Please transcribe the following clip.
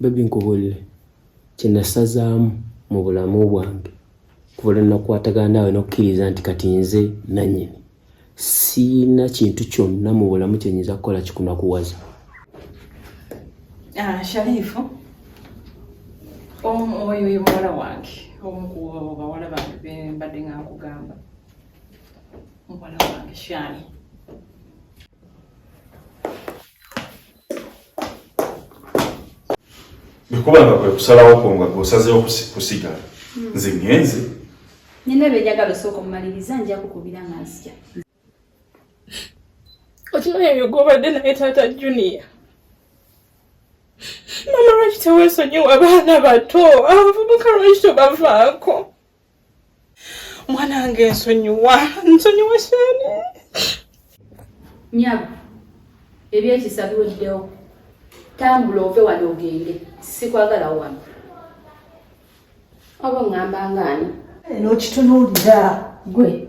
bebi nkubulire kyenasazaamu mu bulamu bwange kuva lwenakwatagana naawe nokukkiriza nti kati nze nanyini siina kintu kyonna mu bulamu kyenyinza kukola kikunakuwaza ah, sharifu oyo ye muwala wange omu ku bawala bange bembadde nga nkugamba muwala wange shani bikubanga kwe kusalawo kwo nga gwosazewo kusigala hmm. nze ngenze nina byenjagala osooka omumaliriza nja kukubira nga nzija okimanyi ebyo gwobadde naye taata junior mama lwaki tewesonyiwa abaana bato abavubuka lwaki tobavaako mwanange nsonyiwa nsonyiwa shani nyabo ebyekisa biweddewo tambula ove wano ogende sikwagala wano oba ongamba ngaani nokitunuulira gwe